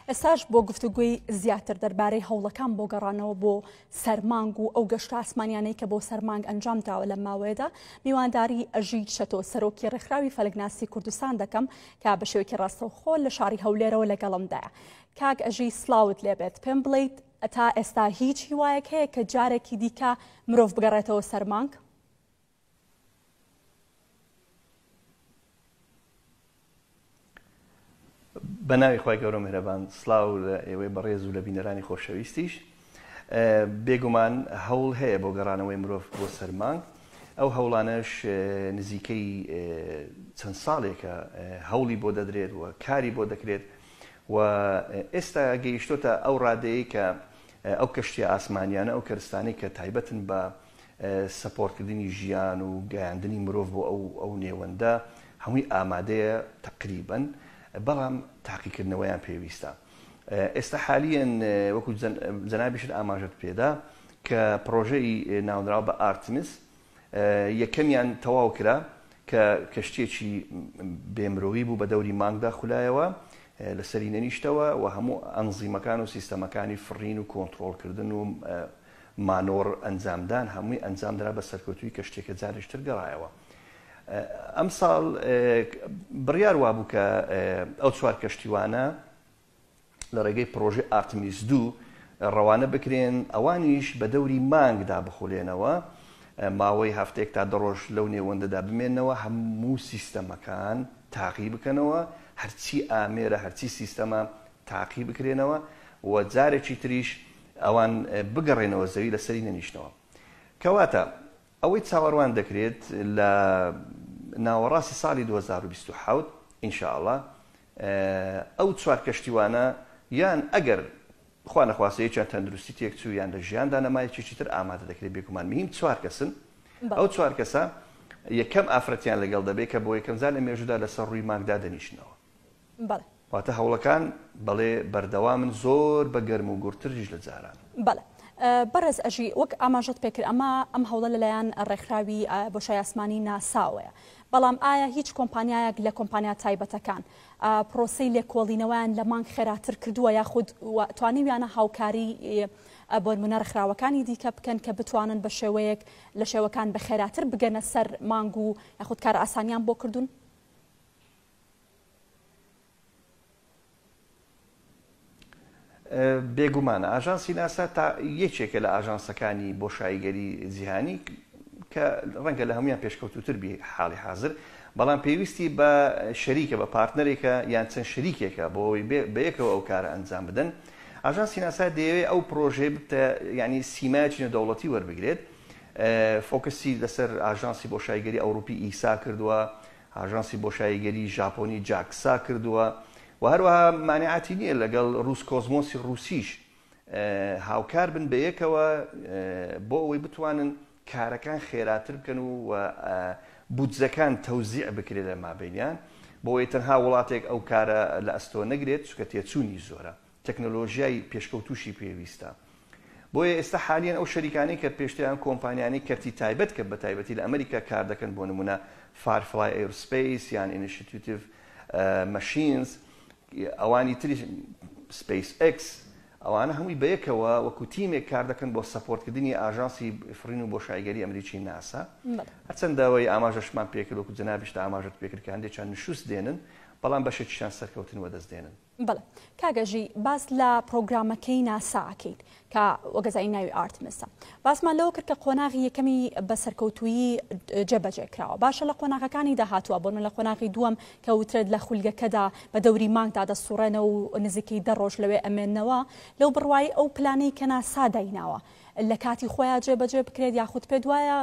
ئێستاش بۆ گفتوگوی زیاتر دەربارەی هەوڵەکان بۆ گەڕانەوە بۆ سەرمانگ و ئەو گەشت ئاسمانیانەی کە بۆ سەرمانگ ئەنجام داوە لە ماوەیەدا میوانداری ئەژی شەتۆ سەرۆکی ڕێکخراوی فەلگناسی کوردستان دەکەم کە بە شێوکی ڕاستەوخۆ لە شاری هەولێرەوە لەگەڵمدایە کاک ئەژی سلااوت لێبێت پێم بڵیت ئەتا ئێستا هیچ هیوایەک هەیە کە جارێکی دیکە مرۆڤ بگەڕێتەوە سەرمانگ بە ناوی خی گەورە مهرەبان سلااو لە ئێوەی بەڕێز و لە بینەرانی خۆشەویستیش بێگومان هەوڵ هەیە بۆ گەڕانەوەی مرۆڤ بۆ سەرمانگ ئەو هەوڵانەش نزیکەی چەند ساڵێکە هەوڵی بۆ دەدرێت و کاری بۆ دەکرێت و ئێستا گەیشتۆتە ئەو ڕادەیە کە ئەو کەشتی ئاسمانیانە ئەو کەرستانی کە تایبەتن بە سەپۆڕتکردنی ژیان و گەیاندنی مرۆڤ بۆ ئەو ئەو نێوەندە هەمووی ئامادەیە تەقریبەن بەڵام تاقیکردنەوەیان پێویستە ئێستا حالیەن وەکو جەنابیشت ئاماژت پێدا کە پرۆژەی ناونراوە بە ئارتمس یەکەمیان تەواو کرا کە کەشتێکی بێمرۆوی بوو بە دەوری مانگدا خولایەوە لەسەری نەنیشتەوە و هەموو ئەنزیمەکان و سیستەمەکانی فڕین و کۆنتترۆلکردن و مانۆڕ ئەنجامدان هەمووی ئەنجامدرا بە سەرکەوتوویی کەشتیەکە جارێکی تر گەڕایەوە ئەمساڵ بڕیار وابوو کە ئەو چوار کەشتیوانە لە ڕێگەی پرۆژی ئارتمیس دوو ڕەوانە بکرێن ئەوانیش بە دەوری مانگدا بخولێنەوە ماوەی هەفتێک تا دەڕۆژ لەو نێوەندەدا بمێنەوە هەموو سیستەمەکان تاقی بکەنەوە هەرچی ئامێرە هەرچی سیستەمە تاقی بکرێنەوە و جارێکی تریش ئەوان بگەڕێنەوە زەوی لەسەری نەنیشتنەوە. کەواتە ئەوەی چاوەڕوان دەکرێت لە ناوەڕاستی ساڵی دوو هەزار و بیست و حەوت ان شاء اللە ئەو چوار کەشتیوانە یان ئەگەر خوا نەخواستە یەکیان تەندروستی تێکچوو یان لە ژیاندا نەما یەکێکی تر ئامادە دەکرێت بێگومان مهیم چوار کەسن ئەو چوار کەسە یەکەم ئافرەتیان لەگەڵ دەبێت کە بۆ یەکەمجار لە مێژوودا لەسەر ڕووی مانگدا دەنیشنەوە. بەڵێ. واتە هەوڵەکان بەڵێ بەردەوامن زۆر بە گەرم و گوڕتریش لە جاران. بەڵێ. بەڕێز ئەژی، وەک ئاماژەت پێکرد ئەمە ئەم هەوڵە لەلایەن ڕێکخراوی بۆشای ئاسمانی ناساوەیە، بەڵام ئایا هیچ کۆمپانیایەک لە کۆمپانیا تایبەتەکان پرۆسەی لێکۆڵینەوەیان لە مانگ خێراتر کردووە یاخود توانیویانە هاوکاری بۆنمونە ڕێکخراوەکانی دیکە بکەن کە بتوانن بە شێوەیەک لە شێوەکان بە خێراتر بگەنە سەر مانگ و یاخود کار ئاسانیان بۆ کردوون؟ بێگومان ئاژانسی ناسا تا یەکێکە لە ئاژانسەکانی بۆشاییگەری جیهانی کە ڕەنگە لە هەمویان پێشکەوتوتر بی حاڵی حاضر بەڵام پێویستی بە شەریکە بە پارتنەرێکە یان چەند شەریکێکە بۆەوەی بەیەکەوە ئەو کارە ئەنجام بدەن ئاژانسی ناسا دەیەوێت ئەو پرۆژێ بتە ینی سیمایچینە دەوڵەتی وەربگرێت فۆکسی لەسەر ئاژانسی بۆ شایگەری ئەوروپی ئیسا کردووە ئاژانسی بۆشاییگەریی ژاپۆنی جاکسا کردووە و هەروەها مانعاتی نییە لەگەڵ رووسکۆزمۆسی رووسیش هاوکار بن بەیەکەوە بۆ ئەوەی بتوانن کارەکان خێراتر بکەن و و بودجەکان تەوزیع بکرێت لە مابەینیان بۆ ئەوەی تەنها وڵاتێک ئەو کارە لە ئەستۆ نەگرێت، چونکە تێچوونی زۆرە. تەکنەلۆژیای پێشکەوتووشی پێویستە. بۆیە ئێستا حالیەن ئەو شەریکانەی کە پێشتر یان کۆمپانیانەی کەرتی تایبەت کە بەتایبەتی لە ئەمریکا کار دەکەن بۆ نموونە Firefly Aerospace یان Initiative Machines ئەوانی تریش Space X ئەوانە هەمووی بەیەکەوە وەکو تیمێک کار دەکەن بۆ سەپۆرتکردنی ئاژانسی فڕین و بۆشاییگەری ئەمریکی ناسا هەرچەند داوای ئاماژەشمان پێکرد وەکو جەنابیشت ئاماژەت پێکرد کە هەندێکیان نشوست دێنن بەڵام بەشێکیشیان سەرکەوتن وەدەست دێنن. بەڵێ کاک ژی باس لە پڕۆگرامەکەی ناسا ئەکەین کە وەگەزای ناوی ئارتمسە باسمان لەوە کرد کە قۆناغی یەکەمی بە سەرکەوتویی جێبەجێ کراوە باشە لە قۆناغەکانی داهاتوە بۆن لە قۆناغی دووەم کە وترێت لە خولگەکەدا بە دەوری مانگدا دەسوڕێنە و نزیکەی دە ڕۆژ لەوێ ئەمێنەوە لەو بڕوای ئەو پلانەی کە ناسا دایناوە لە کاتی خۆیا جێ بەجێ بکرێت یاخود پێت وایە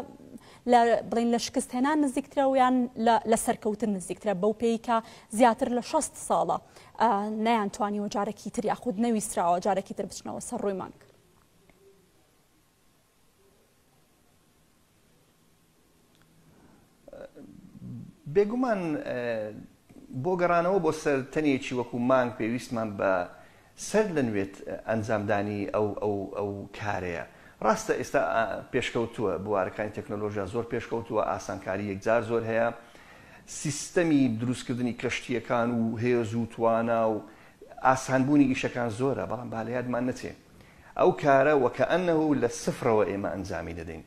لە بڵین لە شکست هێنان نزیکترە و یان لە سەرکەوتن نزیکترە بەو پێی کە زیاتر لە 6 ساڵە نەیان توانی وەجارێکی تر یاخود نەویستراوە جارێکی تر بچنەوە سەر ڕووی مانگ بێگومان بۆ گەڕانەوە بۆ سەر تەنێکی وەکو مانگ پێویستمان بە سەر لە نوێت ئەنجامدانی ئەو ئەو ئەو کارەیە. ڕاستە ئێستا پێشکەوتووە بوارەکانی تەکنەلۆژیا زۆر پێشکەوتووە ئاسانکاری یەکجار زۆر هەیە سیستەمی دروستکردنی کەشتیەکان و هێز و توانا و ئاسانبوونی ئیشەکان زۆرە بەڵام بالەیادمان نەچێ ئەو کارە وەکە ئەنه لە سفرەوە ئێمە ئەنجامی دەدەین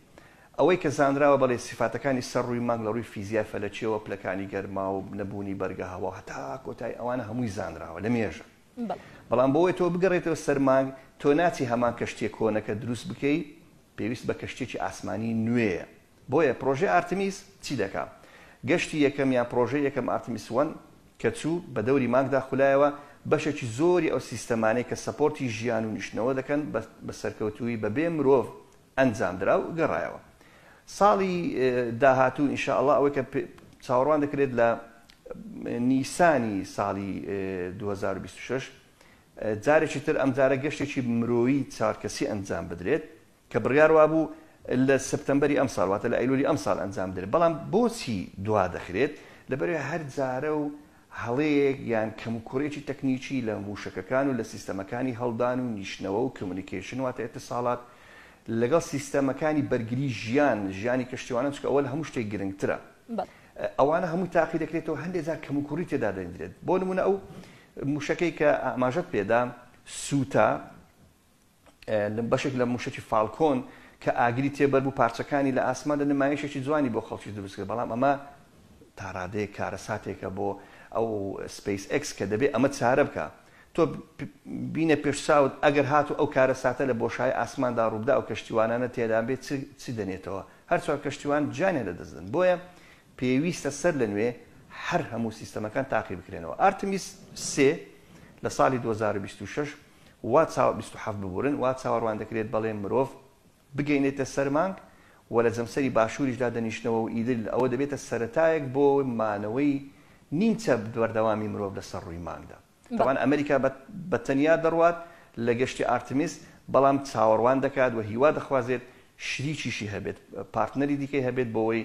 ئەوەی کە زانراوە بەڵێ سیفاتەکانی سەر ڕووی مانگ لە ڕووی فیزیای فەلەکیەوە پلەکانی گەرما و نەبوونی بەرگە هەوا هەتا کۆتایی ئەوانە هەمووی زانراوە لە مێژە بەڵام بۆ ئەوەی تۆ بگەڕێیتەوە سەر مانگ تۆ ناچی هەمان کەشتیە کۆنەکە دروست بکەی پێویست بە کەشتیەکی ئاسمانی نوێیە بۆیە پڕۆژەی ئارتمیس چی دەکا گەشتی یەکەم یان پڕۆژەی یەکەم ئارتمیس وەن کە چوو بە دەوری مانگدا خولایەوە بەشێکی زۆری ئەو سیستەمانەی کە سەپۆرتی ژیان و نیشتنەوە دەکەن بە سەرکەوتوویی بەبێ مرۆڤ ئەنجامدرا و گەڕایەوە ساڵی داهاتوو ان شاء اللە ئەوەی کە چاوەڕوان دەکرێت لە نیسانی ساڵی دوو هەزار و بیست و شەش جارێکی تر ئەمجارە گەشتێکی مرۆیی چوار کەسی ئەنجام بدرێت کە بڕیار وابوو لە سپتەمبەری ئەمساڵ واتە لە ئەیلولی ئەمساڵ ئەنجام بدرێت بەڵام بۆچی دوا دەخرێت لەبەرئەوەی هەر جارە و هەڵەیەک یان کەموکوڕیەکی تەکنیکی لە مووشەکەکان و لە سیستەمەکانی هەڵدان و نیشتنەوە و کمیونیکەیشن واتە ئیتیصالات لەگەڵ سیستەمەکانی بەرگری ژیان ژیانی کەشتیوانان چونکە ئەوە لە هەموو شتێک گرنگترە ئەوانە هەمووی تاقی دەکرێتەوە هەندێک جار کەموکوڕی تێدا دەیندرێت بۆ نموونە ئەو مووشەکەی کە ئاماژەت پێدا سووتا بەشێک لە مووشەکی فاڵکۆن کە ئاگری تێبەربوو پارچەکانی لە ئاسماندا نمایشێکی جوانی بۆ خەڵکی دروست کرد بەڵام ئەمە تاڕادەیە کارەساتێکە بۆ ئەو سپیس ئەکس کە دەبێت ئەمە چارە بکە تۆ بینە پێش چاوت ئەگەر هاتو ئەو کارە ساتە لە بۆشای ئاسماندا ڕووبدا ئەو کەشتیوانانە تێدا بێت چی دەنێتەوە هەرچوار کەشتیوان جانێ لە دەستدن بۆیە پێویستە سەر لە نوێ هەر هەموو سیستەمەکان تاقی بکرێنەوە ئارتمیس سێ لە ساڵی 2026 وا چاوە بیست و حەفت ببورن وا چاوەروان دەکرێت بەڵێ مرۆڤ بگەینێتە سەر مانگ و لە جەمسەری باشوریشدا دەنیشنەوە و ئیدل ئەوە دەبێتە سەرەتایەک بۆ مانەوەی نیمچە بەردەوامی مرۆڤ لە سەر ڕووی مانگدا تەبان ئەمریکا بە تەنیا دەڕوات لە گەشتی ئارتمیس بەڵام چاوەڕوان دەکات و هیوا دەخوازێت شریکیشی هەبێت، پارتنەری دیکەی هەبێت بۆوەی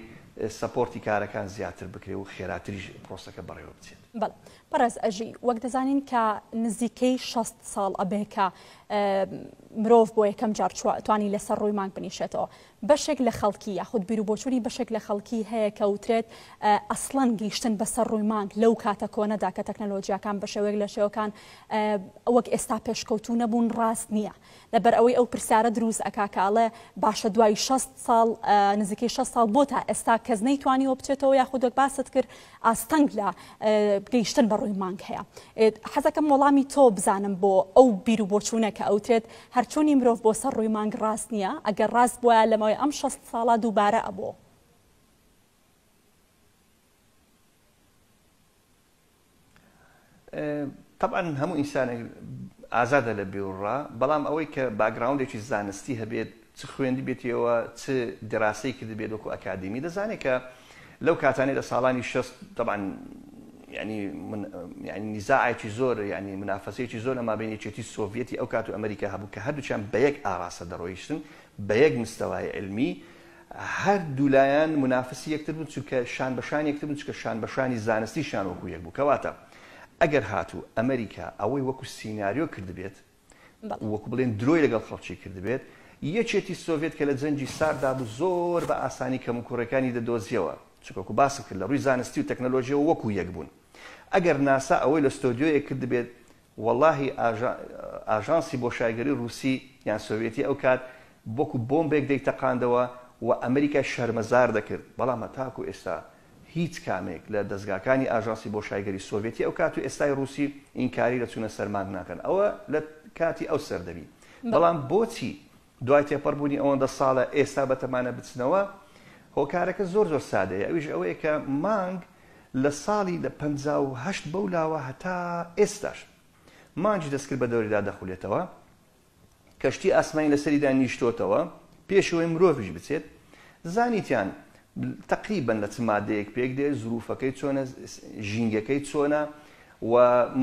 سەپۆرتی کارەکان زیاتر بکرێ و خێراتریش پرۆسەکە بەڕێوە بچێت. بەڵێ بەڕێز ئەژی، وەک دەزانین کە نزیکەی شەست ساڵ ئەبێ کە مرۆڤ بۆ یەکەم جار توانی لەسەر ڕووی مانگ بنیشێتەوە. بەشێک لە خەڵکی یاخود بیر و بۆچوونی بەشێک لە خەڵکی هەیە کە وترێت ئەسڵەن گەیشتن بەسەر ڕووی مانگ لەو کاتە کۆنەدا کە تەکنەلۆجیاکان بە شێوەیەک لە شێوەکان وەک ئێستا پێشکەوتوو نەبوون ڕاست نییە. لەبەر ئەوەی ئەو پرسیارە دروست ئەکا کە ئەڵێ باشە دوای شەست ساڵ نزیکەی شەست ساڵ بۆ تا ئێستا کەس نەیتوانیوە بچێتەوە یاخود وەک باست کرد ئاستەنگ لە گەیشتن بە ڕووی مانگ هەیە حەزەکەم وەڵامی تۆ بزانم بۆ ئەو بیر و بۆچوونە کە ئەوترێت هەرچوونی مرۆڤ بۆ سەر ڕووی مانگ ڕاست نییە ئەگەر ڕاست بووە لەمەوەی ئەم شەست ساڵە دووبارە ئەبوو تەبعەن هەموو ئینسانێک ئازادە لە بیروڕا، بەڵام ئەوەی کە باکگراوندێکی زانستی هەبێت، چ خوێندبێتیەوە، چ دیراسەی کردبێت وەکو ئەکادیمی، دەزانێت کە لەو کاتانەی لە ساڵانی شەست، تەبعەن یانی من یانی نیزاعێکی زۆر یانی منافەسەیەکی زۆر لە مابەین یەکێتی سۆڤیەتی ئەو کات و ئەمریکا هەبوو کە هەردووکیان بە یەک ئاراستە دەڕۆیشتن، بە یەک مستەوای علمی، هەر دوولایان مونافسی یەکتر بوون چونکە شان بە شانی یەکتر بوون چونکە شان بە شانی زانستیشیان وەکو یەک بوو کەواتە ئەگەر هاتوو ئەمریکا ئەوەی وەکو سیناریۆ کردبێت و وەکو بڵێن درۆی لەگەڵ خەڵکی کردبێت یەکێتی سۆڤێت کە لە جەنگی سارددا بوو زۆر بە ئاسانی کەموکوڕیەکانی دەدۆزیەوە چونکە وەکو باسم کرد لە ڕووی زانستی و تەکنەلۆژیەوە وەکو یەک بوون ئەگەر ناسا ئەوەی لە ستۆدیۆیەک کردبێت وەڵاهی ئاژان ئاژانسی بۆشایگەری ڕووسی یان سۆڤێتی ئەو کات وەکو بۆمبێک دەیتەقاندەوە و ئەمریکای شەرمەزار دەکرد بەڵام هەتاکو ئێستا هیچ کامێک لە دەزگاکانی ئاژانسی بۆشایگەری سۆڤێتی ئەو کات و ئێستای ڕووسی ئینکاری لە چوونە سەر مانگ ناکەن ئەوە لە کاتی ئەو سەردەمی بەڵام بۆچی دوای تێپەڕبوونی ئەوەندە ساڵە ئێستا بەتەمانە بچنەوە، هۆکارەکە زۆر زۆر سادەیە ئەویش ئەوەیە کە مانگ لە ساڵی لە پەنجا و هەشت بەو لاوە هەتا ئێستاش مانگی دەستکرد بە دەوریدا دەخولێتەوە، کەشتی ئاسمانی لەسەریدا نیشتۆتەوە پێش ئەوەی مرۆڤیش بچێت، زانیتیان تەقریبەن لە چ مادەیەک پێکدێت، زروفەکەی چۆنە، ژینگەکەی چۆنە، و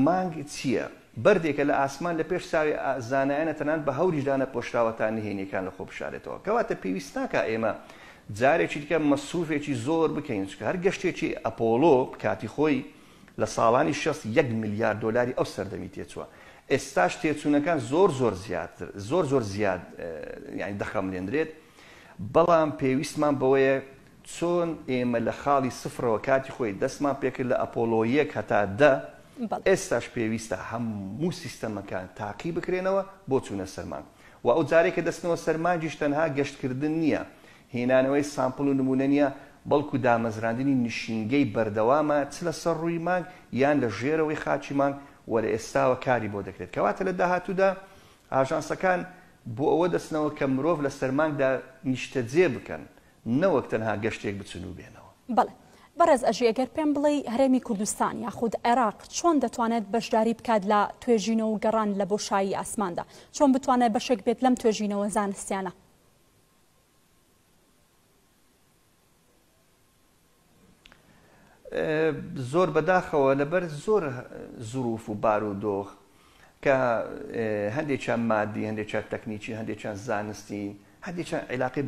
مانگ چییە؟ بەردێکە لە ئاسمان لە پێش چاوی زانایانە تەنانەت بە هەوریش دانەپۆشراوە تا نهێنییەکان لە خۆ بشارێتەوە. کەواتە پێویست ناکا ئێمە جارێکی دیکە مەسروفێکی زۆر بکەین چونکە هەر گەشتێکی ئەپۆڵۆ کاتی خۆی لە ساڵانی شەست یەک ملیار دۆلاری ئەو سەردەمی تێچووە ئێستاش تێچوونەکان زۆر زۆر زیاتر زۆر زۆر زیاد یانی دەخەملێندرێت بەڵام پێویستمان بەوەیە چۆن ئێمە لە خاڵی سفرەوە کاتی خۆی دەستمان پێکرد لە ئەپۆڵۆ یەک هەتا دە، ئێستاش پێویستە هەموو سیستەمەکان تاقی بکرێنەوە بۆ چوونە سەر مانگ و ئەو جارەی کە دەچنەوە سەر مانگیش تەنها گەشتکردن نییە، هێنانەوەی سامپڵ و نموونە نییە، بەڵکو دامەزراندنی نشینگەی بەردەوامە چ لە سەر ڕووی مانگ یان لە ژێرەوەی خاکی مانگ و لە ئێستاوە کاری بۆ دەکرێت، کەواتە لە داهاتوودا ئاژانسەکان بۆ ئەوە دەچنەوە کە مرۆڤ لە سەر مانگدا نیشتەجێ بکەن نەوەک تەنها گەشتێک بچن و بێنەوە. بەڵێ بەڕێز ئەژی ئەگەر پێم بڵێی هەرێمی کوردستان یاخود عێراق چۆن دەتوانێت بەشداری بکات لە توێژینەوە و گەڕان لە بۆشایی ئاسماندا چۆن بتوانێت بەشێک بێت لەم توێژینەوە زانستیانە؟ زۆر بەداخەوە لەبەر زۆر زروف و بارودۆخ کە هەندێکیان مادی هەندێکیان تەکنیکی هەندێکیان زانستی هەندێکیان عیلاقی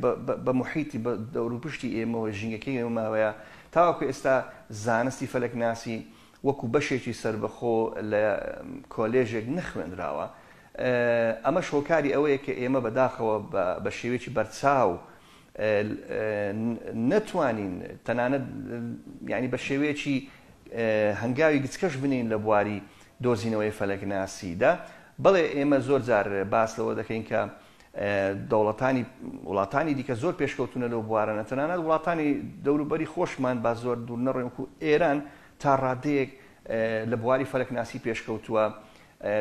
بە محیتی بە دەوروپشتی ئێمەوە ژینگەکەی ئێمەماوەیە تاوەکو ئێستا زانستی فەلەکناسی وەکو بەشێکی سربەخۆ لە کۆلێژێک نەخوێنراوە ئەمەش هۆکاری ئەوەیە کە ئێمە بەداخەوە بە شێوێکی بەرچاو نەتوانین تەنانەت یانی بە شێوەیەکی هەنگاوی گچکەش بنێین لە بواری دۆزینەوەی فەلەکناسی دا، بەڵێ ئێمە زۆر جار باس لەوە دەکەین کە دەوڵەتانی وڵاتانی دیکە زۆر پێشکەوتوونە لەو بوارانە تەنانەت وڵاتانی دەوروبەری خۆشمان با زۆر دوور نەڕۆین وەکو ئێران تا ڕادەیەک لە بواری فەلەکناسی پێشکەوتووە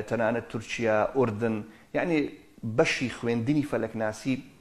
تەنانەت تورکیا ئوردن یانی بەشی خوێندنی فەلەکناسی